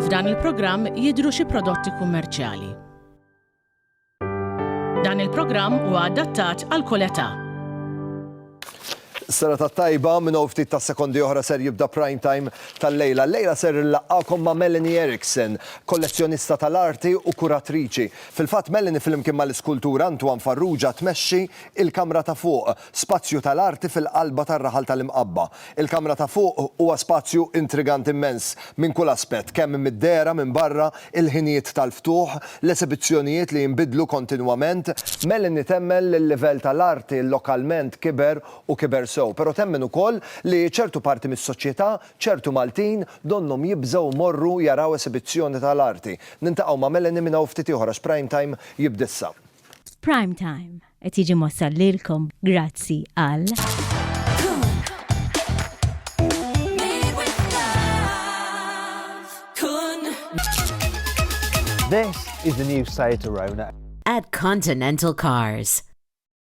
F'dan il-programm jidhru xi prodotti kummerċjali. Dan il-programm huwa adattat għal kull età. Sena ta' tajba minn hawn ftit ta' sekondi oħra ser jibda prime time tal-lejla. Lejla ser illaqgħakom ma' Melanie Erickson, kollezzjonista tal-arti u kuratriċi. Fil-fatt, Melanie flimkien mal-iskultur Antoine Farrugia tmexxi Il-Kamra ta' Fuq, spazju tal-arti fil-qalba tar-raħal tal-Imqabba. Il-Kamra ta' Fuq huwa spazju intriganti immens minn kull aspett, kemm mid-dehra minn barra, il-ħinijiet tal-ftuħ, l-esibizzjonijiet li jinbidlu kontinwament. Melanie temmen li l-livell tal-arti lokalment kiber u kiber sew, però temmen ukoll li ċertu parti mis-soċjetà Ċertu Maltin donnhom jibżgħu jmorru jaraw esibizzjoni tal-arti. Nintaqgħu ma' Melanie minn hawn ftit ieħor għax Prime Time jibda issa. Prime Time qed jiġi mwassal lilkom grazzi għal. This is the new site to Rona. At Continental Cars.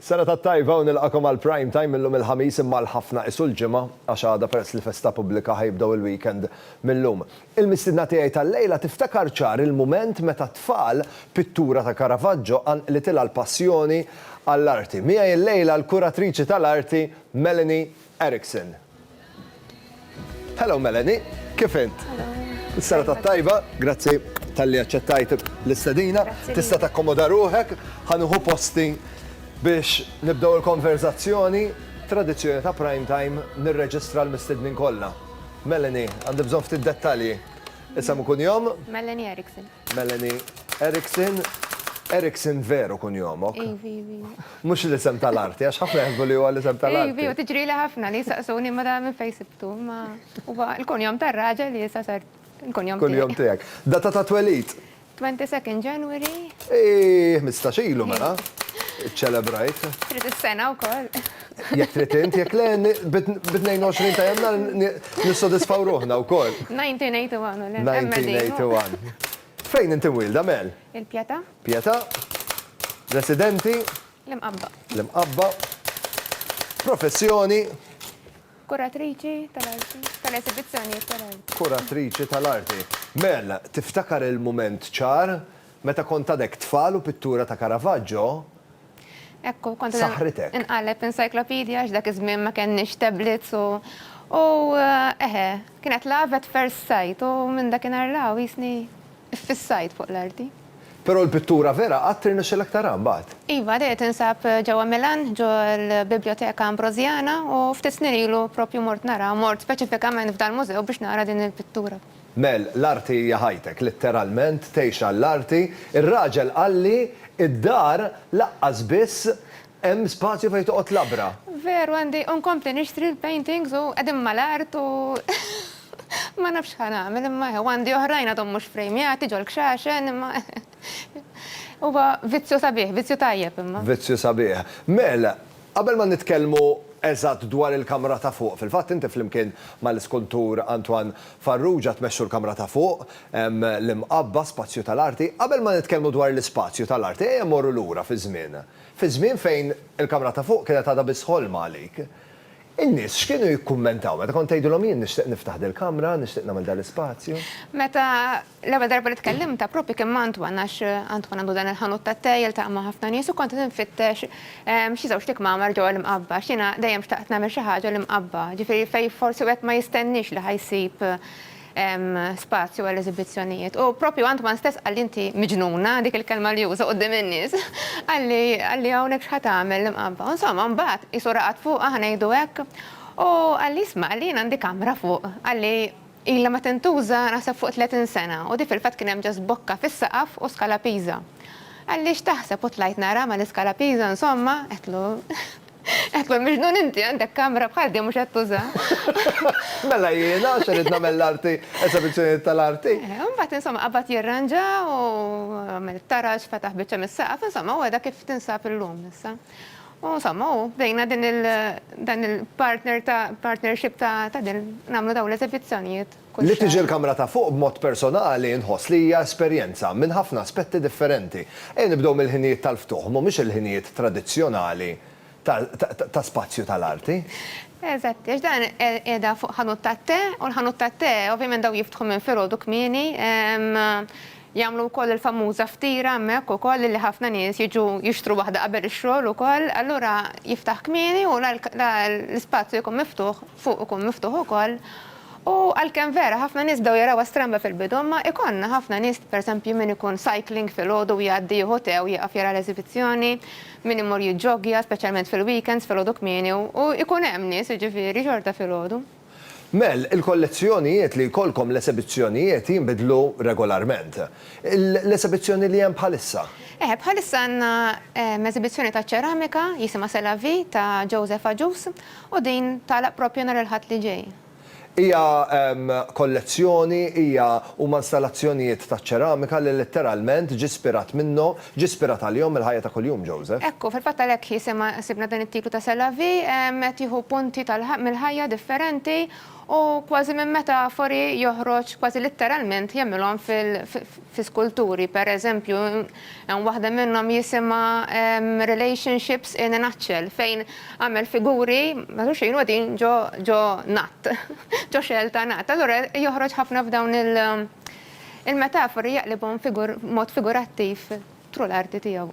Sena tat-tajba u nilqagħkom għal Prime Time illum il-Ħamis imma għal ħafna qisu l-Ġimgħa għax għada peress li festa pubblika ħa jibdew il-weekend mil-lum. Il-mistiedna tiegħi tal-lejla tiftakar ċar il-mument meta t-tfal pittura ta' Caravaggio qanqlitilha l-passjoni għall-arti. Miegħi l-lejla l-kuratriċi tal-arti Melanie Erickson. Hello Melanie, kif int? Is-sena tat-tajba, grazzi talli aċċettajt l-istedina. Tista' takkomoda ruħek, ħanuħu posti biex nibdew il-konverzazzjoni tradizzjoni ta' prime time nirreġistra l-mistednin kollha. Melanie, għandi bżonn ftit dettalji. Isem u kunjom? Melanie Erickson. Melanie Erickson, Erickson veru kunjomok? Ivi, ivi. Mhux l-isem tal-arti, għax ħafna jaħsbu li huwa l-isem tal-arti. Ivi, u tiġrili ħafna li jsaqsuni ma dan minn fejn sibtu, imma huwa l-kunjom tar-raġel li issa sar il-kunjom tiegħi. Kunjom tiegħek. Data ta' twelid? 22nd January. Iih, ħmistax ilu mela. Iċċelebrajt. Trid is-sena wkoll. Jekk trid int, jekk le, bit-22 ta' Jannar nissodisfaw ruħna wkoll. 1981 u le. 1981. Fejn inti mwielda, Mel? Il-Pjeta. Pjeta. Residenti? L-Imqabba. L-Imqabba. Professjoni? Kuratriċi tal-arti. Tal-esibizzjonijiet tal-arti. Kuratriċi tal-arti. Mel, tiftakar il-mument ċar meta kont għadek tfal u pittura ta' Caravaggio Ekku, kont Saħritek. inqaleb encyclopedia għax dak iż-żmien ma kenniex tablets u u eħe, kienet love at first sight u minn dakinhar l jisni ffissajt fuq l-arti. Però l-pittura vera qatt irnexxilek tara mbagħad? Iva, dejja tinsab ġewwa Milan, ġo l-Biblioteka Ambrosiana u ftit snin ilu propju mort nara, mort speċifikament f'dal-mużew biex nara din il-pittura. Mel, l-arti hija ħajtek, litteralment tgħix għall-arti. Ir-raġel qalli, Id-dar laqqas biss hemm spazju fejn toqgħod labra. Veru għandi u nkompli nixtri l-paintings u qegħdin mal-art u ma nafx x'ħa nagħmel imma hu għandi oħrajn għadhom mhux frejmjati ġol-kxaxen imma huwa vizzju sabiħ, vizzju tajjeb imma. Vizzju sabiħ. Mel, Qabel ma nitkellmu eżatt dwar il-kamra ta' fuq, fil-fatt inti flimkien mal-iskultur Antoine Farrugia tmexxu l-kamra ta' fuq, l-Imqabba, Spazju tal-Arti. Qabel ma nitkellmu dwar l-Ispazju tal-Arti ejja mmorru lura fiż-żmien. Fiż-żmien fejn il-kamra ta' fuq kienet għadha biss ħolma għalik. In-nies x'kienu jikkummentaw meta kont tgħidilhom jien nixtieq niftaħ dil-kamra, nixtieq nagħmel dal-ispazju? Meta L-ewwel darba li tkellimtha proprju kien ma' Antoine għax Antoine għandu dan il-ħanut tat-tè, jiltaqa' ma' ħafna nies u kont qed infittex xi żewġt ikmamar ġewwa l-Imqabba għax jiena dejjem xtaqt nagħmel xi ħaġa l-Imqabba, ġifieri fejn forsi wieħed ma jistenniex li ħa jsib spazju għall-eżibizzjonijiet. U proprju Antoine stess qalli inti miġnuna, dik il-kelma li uża quddiem in-nies, qalli qalli hawnhekk x'ħa tagħmel l-Imqabba. U insomma mbagħad qisu raqad fuqha ħa ngħidu hekk u qalli isma' qalli jien għandi kamra fuq, qalli, Ilha ma tintuża naħseb fuq tletin sena u di fil-fatt kien hemm just bokka fis-saqaf u Scala Pisa. Għaliex taħseb u tlajt nara ma l-Scala Pisa insomma, għedtlu, għedtlu miġnun inti għandek kamra bħal di u mhux qed tuża. Mela jiena għax irrid nagħmel l-arti, esebizzjonijiet tal-arti. U mbagħad insomma qabad jirranġa u għamel it-taraġ, fetaħ biċċa mis-saqaf, insomma u heda kif tinsab illum issa. U insomma, u bdejna din il, dan il-partner ta', partnership ta' ta' din, nagħmlu dawn l-eżebizzjonijiet kull xahar. Li tiġi l-kamra ta' fuq b'mod personali nħoss li hija esperjenza minn ħafna aspetti differenti. Ejja nibdew mill-ħinijiet tal-ftuħ, mhumiex il-ħinijiet tradizzjonali ta', ta', ta' spazju tal-arti. Eżatti, għax dan qiegħda fuq ħanut tat-te, u l-ħanut tat-te ovvjament dawn jiftħu minn filgħodu kmieni, Jagħmlu wkoll il-famuża ftira hemmhekk ukoll illi ħafna nies jiġu jixtru waħda qabel ix-xogħol ukoll, allura jiftaħ kmieni u l-ispazju jkun miftuħ fuq ikun miftuħ ukoll u għalkemm vera ħafna nies bdew jarawha stramba fil-bidu imma ikollna ħafna nies pereżempju min ikun cycling filgħodu u jgħaddi jieħu tè u jieqaf jara l-eżibizzjoni, min imur jiġġoggja speċjalment fil-weekends filgħodu kmieni u jkun hemm nies jiġifieri xorta filgħodu. Mel, il-kollezzjonijiet li jkollkom l-esebizzjonijiet jinbidlu regolarment. L-esebizzjoni li hemm bħalissa? Eħe, bħalissa għandna esebizzjoni ta' ċeramika jisimha C'est la vie ta' Joseph Agius u din tagħlaq proprju nhar il-Ħadd li ġej. Hija kollezzjoni, hija, huma installazzjonijiet taċ-ċeramika li letteralment ġie spirat minnhom Ġie spirat għalihom mill-ħajja ta' kuljum Joseph. Hekk hu. Fil-fatt għalhekk jisimha, sibna dan it-titlu ta' C'est la vie, qed jieħu punti tal, mill-ħajja differenti u kważi minn metafori joħroġ kważi litteralment jagħmilhom fil, fi skulturi. Per eżempju, hemm waħda minnhom jisimha Relationships in a nutshell fejn għamel figuri matul xejn u qegħdin ġo, ġo nutt, ġo xell ta' nutt. Allura joħroġ ħafna f'dawn il, Il-metafori jaqlibhom b'mod figurattiv tru l-arti tiegħu.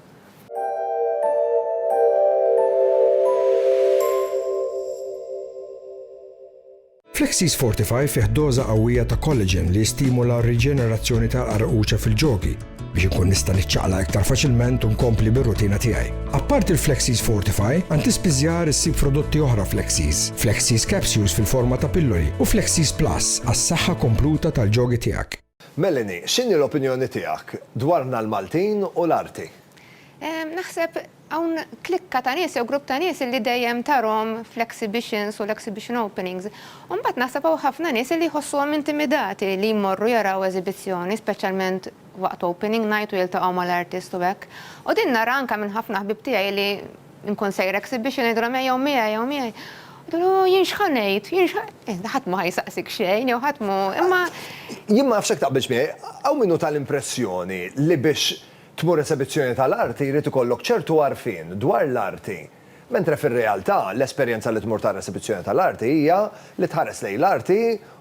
Flexies Fortify fih doża qawwija ta' collagen li jistimula r-riġenerazzjoni tal-qarquċa fil-ġogi biex inkun nista' niċċaqlaq iktar faċilment u nkompli bir-rutina tiegħi. Apparti l-Flexies Fortify, għand ispiżjar issib prodotti oħra Flexies, Flexies Capsules fil-forma ta' pilloli u Flexies Plus għas-saħħa kompluta tal-ġogi tiegħek. Melanie, x'inhi l-opinjoni tiegħek dwarna l-Maltin u l-arti? Naħseb hawn klikka ta' nies jew grupp ta' nies li dejjem tarhom fl-exhibitions u l-exhibition openings. U mbagħad naħseb hawn ħafna nies li jħossuhom intimidati li jmorru jaraw eżibizzjoni, speċjalment waqt opening night u jiltaqgħu mal-artist u hekk. U din nara anke minn ħafna ħbieb tiegħi li nkun sejra exhibition ngħidilhom ejjew miegħi ejjew miegħi. Jgħidulu jien x'ħa ngħid, jien x'ħa. Iżda ħadd m'hu ħa jsaqsik xejn jew ħadd m'hu, imma. Jien ma nafx jekk taqbilx miegħi, hawn min hu ta l-impressjoni li biex tmur esebizzjoni ta' l-arti jrid ikollok ċertu għarfien dwar l-arti. Mentre fir-realtà, l-esperjenza li tmur tara esibizzjoni tal-arti hija li tħares lejn l-arti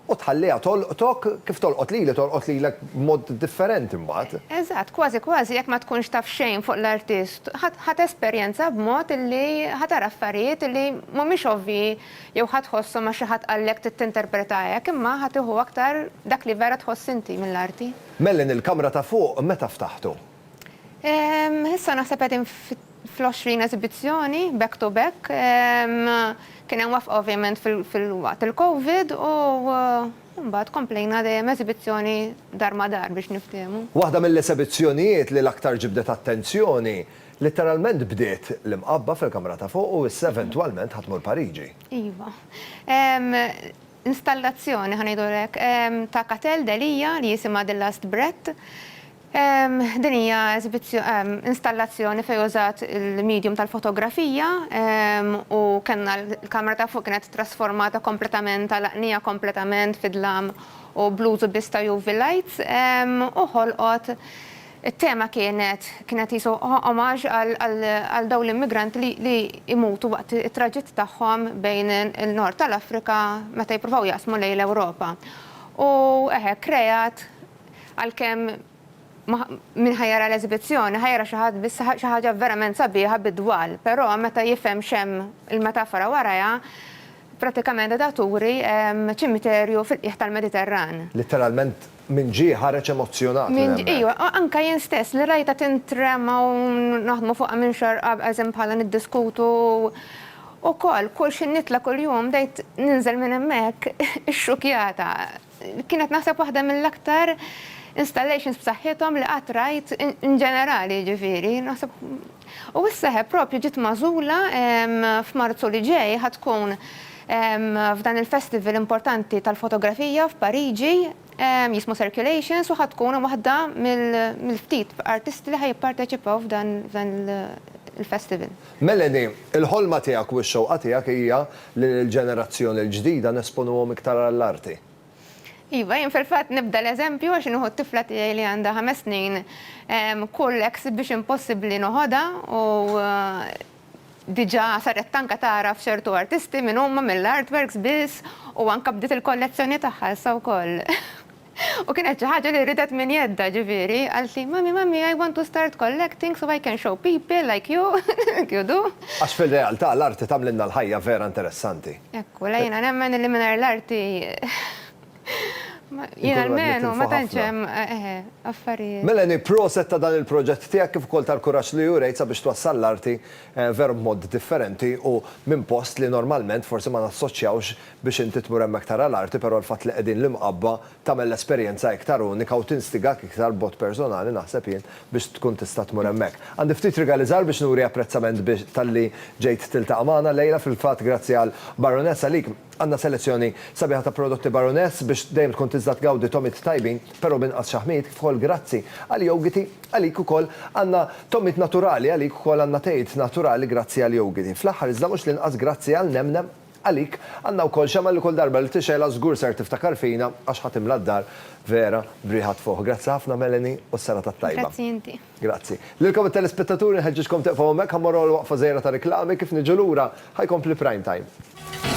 u tħalliha tolqtok, kif tolqot lili tolqot lilek b'mod differenti mbagħad. Eżatt, kważi kważi jekk ma tkunx taf xejn fuq l-artist, ħa tesperjenza b'mod li ħa tara affarijiet li mhumiex ovvji jew ħa tħosshom għax xi ħadd qallek trid tinterpreta hekk, imma ħa tieħu aktar dak li vera tħoss inti mill-arti. Mellin il-kamra ta' fuq meta ftaħtu? Issa naħseb qegħdin fl-20 eżibizzjoni back to back. Kien hemm waqfa ovvjament fil-waqt il-Covid u mbagħad komplejna dejjem eżibizzjoni dar ma' dar biex niftiehmu. Waħda mill-esebizzjonijiet li l-aktar ġibdet attenzjoni, litteralment bdiet l-imqabba fil-kamra ta' fuq u issa eventwalment ħa tmur Pariġi. Iva. installazzjoni, ħa ngħidulu hekk, ta' Catel Delia li jisimha The Last Breath. Din hija installazzjoni fejn użat il-medium tal-fotografija u kellna l-kamra ta' fuq kienet trasformata kompletament, għalaqniha kompletament fid-dlam u bl-użu biss ta' UV lights u ħolqot It-tema kienet kienet qishu omaġ għal dawn l-immigranti li jmutu waqt it-traġitt tagħhom bejn in-Nord tal-Afrika meta jippruvaw jaqsmu lejn l-Ewropa. U eħe, kreat, għalkemm min ħa jara l-eżibizzjoni ħa jara xi ħadd biss xi ħaġa verament sabiħa bid-dwal, però meta jifhem x'hemm il-metafora warajha, pratikament qiegħda turi ċimiterju fil-qiegħ tal-Mediterran. Litteralment Min ġie ħareġ emozzjonat minn hemmhekk? Iva, anke jien stess li rajtha tintrema u naħdmu fuqha minn xahar qabel, eżempju bħala niddiskutu wkoll, kull xi nitla' kuljum bdejt ninżel minn hemmhekk ixxukjata. Kienet naħseb waħda mill-aktar installations b'saħħithom li qatt rajt inġenerali jiġifieri. Naħseb U s-seħeb propju ġiet magħżula f'Marzu li ġej ħa tkun f'dan il-festival importanti tal-fotografija f'Pariġi jismu Circulations u ħa tkun waħda mill-ftit artisti li ħa jipparteċipaw f'dan il-festival. Melanie, il-ħolma tiegħek u x-xewqa tiegħek hija li lill-ġenerazzjoni l-ġdida nesponuhom iktar għall-arti. Iva, jien fil-fatt nibda l-eżempju għax nieħu t-tifla tiegħi li għandha ħames snin, kull exhibition possibbli noħodha u diġà saret anke tagħraf ċertu artisti min huma mill-artworks biss u anke bdiet il-kollezzjoni tagħha issa wkoll. U kienet xi ħaġa li ridet minn jeddha, ġifieri, qaltli, Mummy, Mummy, I want to start collecting so I can show people like you, like you do. Għax fir-realtà l-arti tagħmlilna l-ħajja vera interessanti. Hekk hu, le jiena nemmen li mingħajr l-arti jien almenu ma tantx hemm affarijiet. Melanie, proset ta' dan il-proġett tiegħek kif ukoll tal-kuraġġ li urejt sabiex twassal l-arti veru b'mod differenti u minn post li normalment forsi ma nassoċjawx biex inti tmur hemmhekk tara l-arti però l-fatt li qegħdin l-Imqabba tagħmel l-esperjenza iktar unika u tinstigak iktar b'mod personali naħseb jien biex tkun tista' tmur hemmhekk. Għandi ftit rigali żgħar biex nuri apprezzament biex talli ġejt tiltaqa' magħna llejla, fil-fatt grazzi għal Baroness għalik għandna selezzjoni sabiħa ta' prodotti Baroness biex dejjem tkun tiżda tgawdi togħmiet tajbin però b'inqas xaħmijiet kif ukoll grazzi għall-jowgiti għalik ukoll għandna togħmiet naturali għalik ukoll għandna tejiet naturali grazzi għall-jowgiti fl-aħħar iżda mhux l-inqas grazzi għall-nemnem Għalik, Anna wkoll xemgħa li kull darba li tixgħilha żgur ser tiftakar fina għax ħa timla d-dar vera b'riħa tfuħ. Grazzi ħafna Melanie u s-serata t-tajba. Grazzi inti. Grazzi. Lilkom it-telespettaturi nħeġġiġkom tieqfu hawnhekk ħa mmorru għal waqfa żgħira ta' riklami kif niġu lura ħa jkompli Prime Time.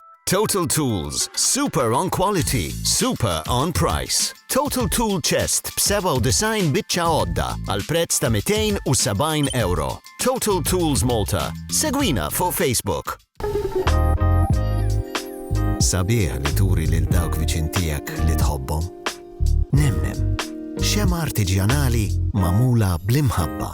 Total Tools, super on quality, super on price. Total Tool Chest b'97 biċċa għodda għal prezz ta' 270 euro. Total Tools Malta. Segwina fuq Facebook. Sabiħ li turi lil dawk viċin tiegħek li tħobbhom. Nemnem, xema artiġjanali mamula bl-imħabba.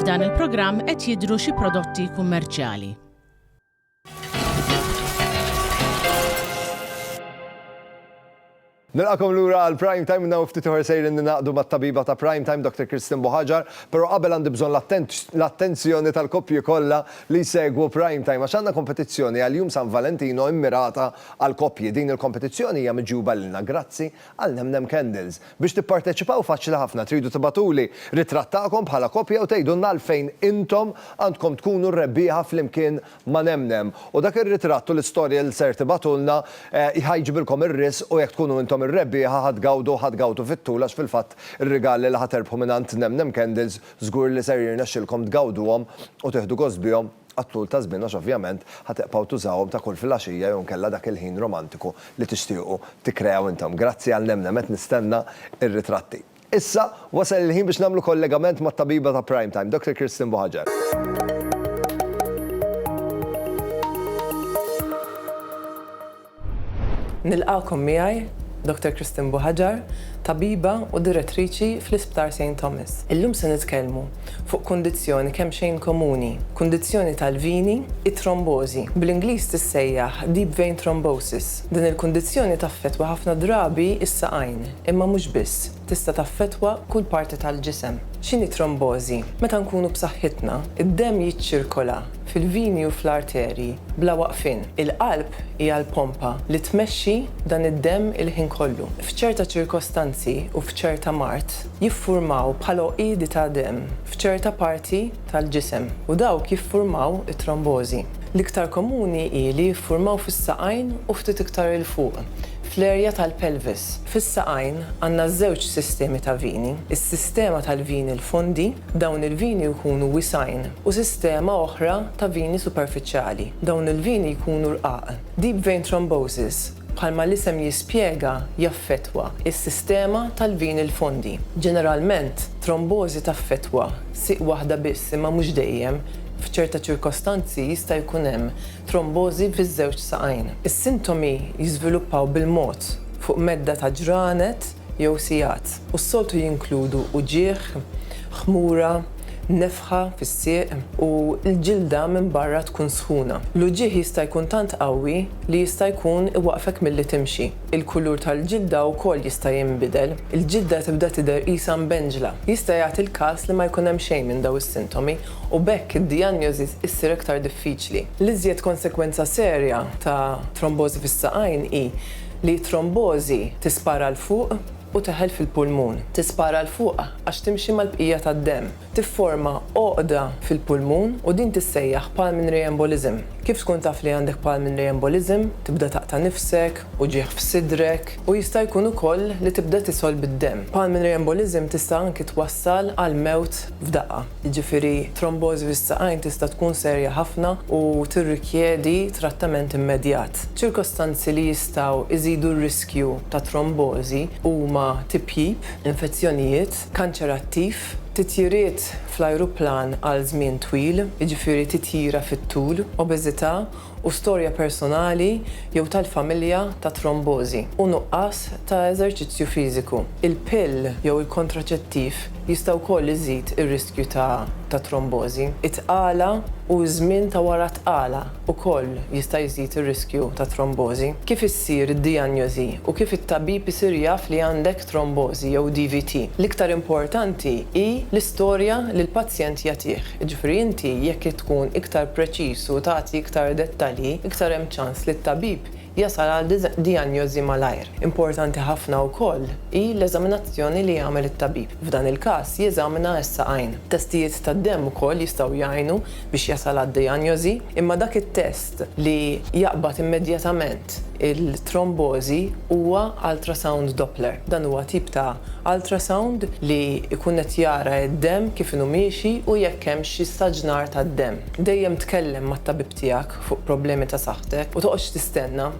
F'dan il-programm qed jidhru xi prodotti kummerċjali. Nilqakom lura għal Prime Time minna ftit uħar sejrin ninaqdu mat tabiba ta' Prime Time, Dr. Kristin Buħaġar, pero qabel għandi bżon l-attenzjoni tal-koppji kollha li jsegwu Prime Time għax għandna kompetizzjoni għal Jum San Valentino immirata għal koppji. Din il-kompetizzjoni hija miġjuba lilna grazzi għal Nemnem Candles. Biex tipparteċipaw faċli ħafna, tridu tibagħtuli ritratt tagħkom bħala koppja u tgħidulna għalfejn intom għandkom tkunu r-rebbieħa flimkien ma' Nemnem. U dak ir-ritratt u l-istorja li ser tibagħtulna ħa jġibilkom ir-risq u jekk tkunu intom ir-rebbieħa ħa tgawdu ħa tgawdu fit-tul għax fil-fatt ir-rigali li ħa terbħu mingħand Nemnem Candles Żgur li ser jirnexxilkom tgawduhom u tieħdu gost bihom għat-tul ta' żmien għax ovvjament ħa tibqgħu tużawhom ta' kull filgħaxija jew inkella dak il-ħin romantiku li tixtiequ tikkreaw intom. Grazzi għal nemnem qed nistenna r-ritratti. Issa wasal il-ħin biex nagħmlu kollegament mat-tabiba ta' Prime Time, Doctor Kirsten Buhaġar. Nilqagħkom miegħi Dottor Christine Buhagiar, tabiba u direttriċi fl-Isptar Saint Thomas. Illum se nitkellmu fuq kundizzjoni kemmxejn komuni, kundizzjoni tal-vini, it-trombożi. Bl-Ingliż tissejjaħ deep vein thrombosis. Din il-kundizzjoni taffettwa ħafna drabi s-saqajn, imma mhux biss. Tista' taffettwa kull parti tal-ġisem. X'inhi trombożi? Meta nkunu b'saħħitna, id-demm jiċċirkola fil-vini u fl-arterji bla waqfien. Il-qalb hija l-pompa li tmexxi dan id-demm il-ħin kollu. F'ċerta ċirkostanzi u f'ċerta mard, jiffurmaw bħal għoqiedi ta' demm f'ċerta parti tal-ġisem u dawk jiffurmaw it-trombożi. L-iktar komuni hi li jiffurmaw fis-saqajn u ftit iktar 'il fuq. fl-erja tal-pelvis. Fis-saqajn għandna żewġ sistemi ta' vini, is-sistema tal-vini l-fondi, dawn il-vini jkunu wisgħin, u sistema oħra ta' vini superfiċjali, dawn il-vini jkunu rqaq. Deep vein thrombosis, bħalma l-isem jispjega, jaffettwa s-sistema tal-vini l-fondi. Ġeneralment, trombożi taffettwa sieq waħda biss imma mhux dejjem, f'ċerta ċirkostanzi jista' jkun hemm trombożi fiż-żewġ saqajn. Is-sintomi jiżviluppaw bil-mod fuq medda ta' ġranet jew sigħat u s-soltu jinkludu uġigħ, ħmura, nefħa fis-sieq u l-ġilda minn barra tkun sħuna. L-uġigħ jista' jkun tant qawwi li jista' jkun iwaqqfek milli timxi. Il-kulur tal-ġilda wkoll jista' jinbidel. Il-ġilda tibda tidher qisha mbenġla. Jista' jagħti l-każ li ma jkun hemm xejn minn dawn is-sintomi u b'hekk id-dijanjosi ssir aktar diffiċli. L-iżjed konsegwenza serja ta' trombożi fis-saqajn hi li t-trombożi tispara 'l fuq u teħel fil-pulmun. Tispara 'l fuq għax timxi mal-bqija tad-demm, tifforma għoqda fil-pulmun u din tissejjaħ pulmonary embolism. Kif tkun taf li għandek pulmonary embolism? Tibda taqta' nifsek, uġigħ f'sidrek u jista' jkun ukoll li tibda tisolb id-demm. Pulmonary embolism tista' anki twassal għall-mewt f'daqqa. jiġifieri trombożi fis-saqajn tista' tkun serja ħafna u tirrikjedi trattament immedjat. Ċirkostanzi li jistgħu jżidu r-riskju ta' trombożi huma tipjip, infezzjonijiet, kanċer attiv, titjiriet fl-ajruplan għal żmien twil, jiġifieri titjira fit-tul, obeżità u storja personali jew tal-familja ta' trombożi u nuqqas ta' eżerċizzju fiżiku. Il-pill jew il-kontraċettiv jista' wkoll iżid ir-riskju ta' ta' trombożi. It-tqala u ż-żmien ta' wara t-tqala wkoll jista' jżid ir-riskju ta' trombożi. Kif issir id-dijanjożi u kif it-tabib isir jaf li għandek trombożi jew DVT, l-iktar importanti hi l-istorja li l-pazjent jagħtih. Jiġifieri inti jekk tkun iktar preċiż u tagħti iktar dettalji, iktar hemm ċans li t-tabib jasal għal dijanjożi malajr. Importanti ħafna wkoll hi l-eżaminazzjoni li jagħmel it-tabib. F'dan il-każ jeżamina s-saqajn. Testijiet tad-demm ukoll jistgħu jgħinu biex jasal għad-dijanjożi, imma dak it-test li jaqbad immedjatament, Il-trombożi huwa ultrasound Doppler. Dan huwa tip ta' ultrasound li jkun qed jara d-demm kif inhu miexi u jekk hemmx xi staġnar tad-demm. Dejjem tkellem mat-tabib tiegħek fuq problemi ta' saħħtek u toqgħodx tistenna.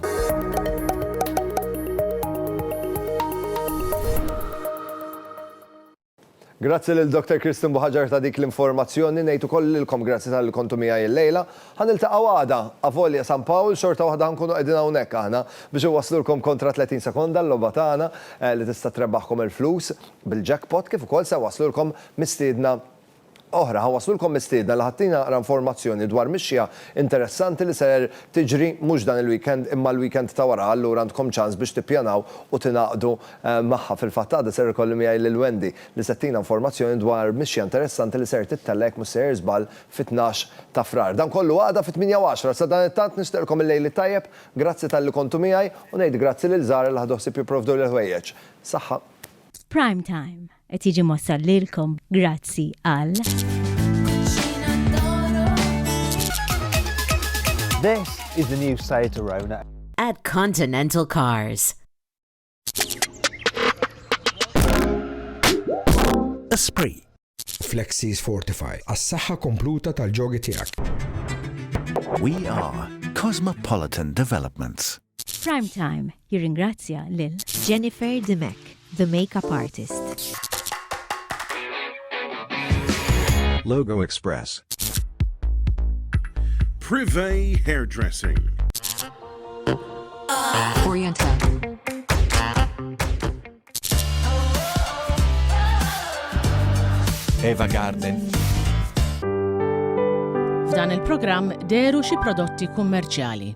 Grazzi lil Dr. Kristin Buħaġar ta' dik l-informazzjoni. Ngħid ukoll lilkom grazzi talli kontu miegħi illejla. Ħa niltaqgħu għada, avolja San Pawl, xorta waħda ħa nkunu qegħdin hawnhekk aħna biex inwasslulkom Kontra 30 Sekonda, l-logħba tagħna li tista' trebaħkom il-flus bil-jackpot kif ukoll se nwasslulkom mistiedna oħra, ħa waslulkom mistiedna li ħa ttina naqra informazzjoni dwar mixja interessanti li ser tiġri mhux dan il-weekend imma l-weekend ta' wara allura għandkom ċans biex tippjanaw u tingħaqdu magħha. Fil-fatt għada ser ikolli miegħi lil Wendy li se ttina informazzjoni dwar mixja interessanti li ser tittella' jekk mhux sejjer żball fit-tnax ta' Frar. Dan kollu għada fit-tmienja u għaxra. Sadanittant nixtieqlkom il-lejl it-tajjeb, grazzi talli kontu miegħi u ngħid grazzi lil Zara li ħadu ħsieb jipprovduli l-ħwejjeġ. Saħħa. F'Prime Time. Qed jiġi mossal lilkom grazzi għal. This is the new Seat Arona. At Continental Cars. Esprit. Flexis Fortify. As-saħħa kompluta tal-ġogi tiegħek. We are Cosmopolitan Developments. Prime Time jirringrazzja lil. Jennifer Dimech, the makeup artist. Logo Express. Privé Hairdressing. Orienta. Eva Garden. F'dan il-programm deru xi prodotti kummerċjali.